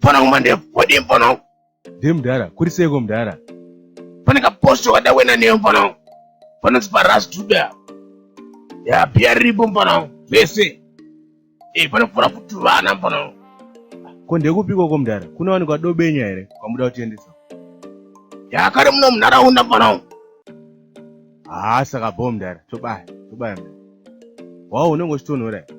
Fana kuma ndevu, wadi mfana wangu. Ndiye mdara, kuri seiko mdara? Fana ka posto wada wena neyo mfana wangu. Fana zipa ras duda. Ya pia ribo mfana wangu. Vese. Eh, fana kufura futu vana mfana wangu. Ko ndekupiko ko mdara? Kuna wani kwa dobenya here? Kwa muda utiendesa. Ya kare muna mnara hunda mfana wangu. Haa, saka bo mdara, tobaya, tobaya mdara. Wao unenge uchitonhora here?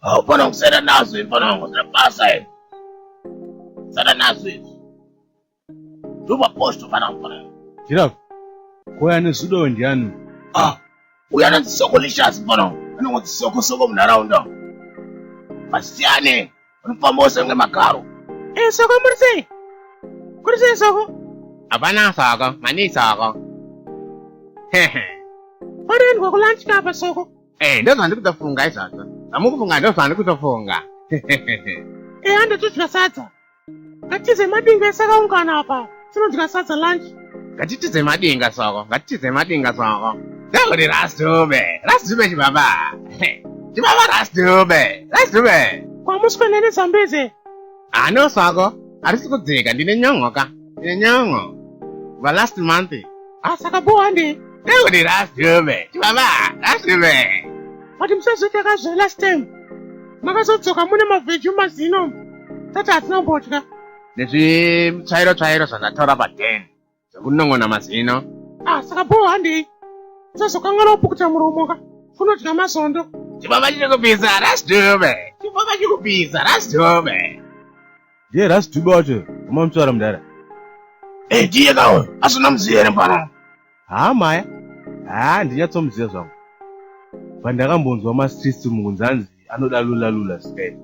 Haupana kusera nazo imfana wangu zira basa iri. Sara nazo iri. Ndova posto fana mfana. Giraffe, koya nezudo ndiani? Ah, uya na zisoko lishasi mfana wangu. Anongo zisoko soko munharaunda. Masiyane. Unofamba usenge magaro. Eh, soko muri sei? Kuri sei soko? Hapana saka, mani saka. Hehe. Wariendwa kulunch kapa soko? Eh, ndozva ndikutofunga izvozvo zvamukufunga ndozva ndikutofunga eya ndatodya sadza ngatize madinga ese akaungana apa tinodya sadza lunch ngatitize madinga soko ngatitize madinga soko ndakuri rasdube rasdube chibaba chibaba rasdube rasdube kwamuswe nene zambeze Ano sako arisi kudzika ndine nyon'o ka ndine nyon'o va last month asaka bowa ndi ndekuti last yove chibaba last yove but musazotaka zve last time makazodzoka mune mavheji mazino tati hatina kumbodya nezvitsvairo tsvairo zvandatora paden Zvekunon'ona mazino. Ah, saka boo handei. Usazokanganwa kupukuta muromo ka. Unodya mazondo. Chibaba chiri kupisa rasdube. Chibaba chiri kupisa rasdube. Ndiye rasdube wacho koma mutsvara mudara. Eh, ndiye ka uyu. Asina muziya here mfana? Haa maya. Haa ndinyatsomuziya zvangu. Pandakambonzwa mastreets mukunzi anzi anoda lula lula sky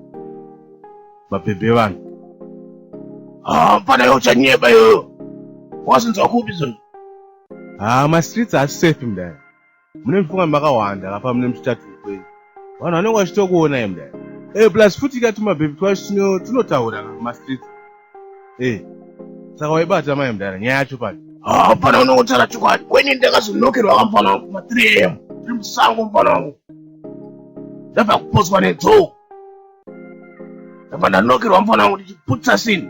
mabhebhe vanhu ah, mfana yo uchanyeba iyoyo wasinzwa kupi zona haa ah, mastreets haasi safe mdaya mune mifunga makawanda kapa mune mutitatu kwenyu vanhu vanenge vachitokuonai mdaya e plus futi ikati mabhebhe twacho tunotaura mastreets Eh. Saka waibata mai mdara nyaya yacho pano. Ah, pana unotaura chokwadi. Kweni ndakazonokerwa kamfana wangu pa 3 am. Tiri musango mfana wangu. Ndabva kuposwa nedzou. Ndabva ndanokerwa mfana wangu ndichiputsa sini.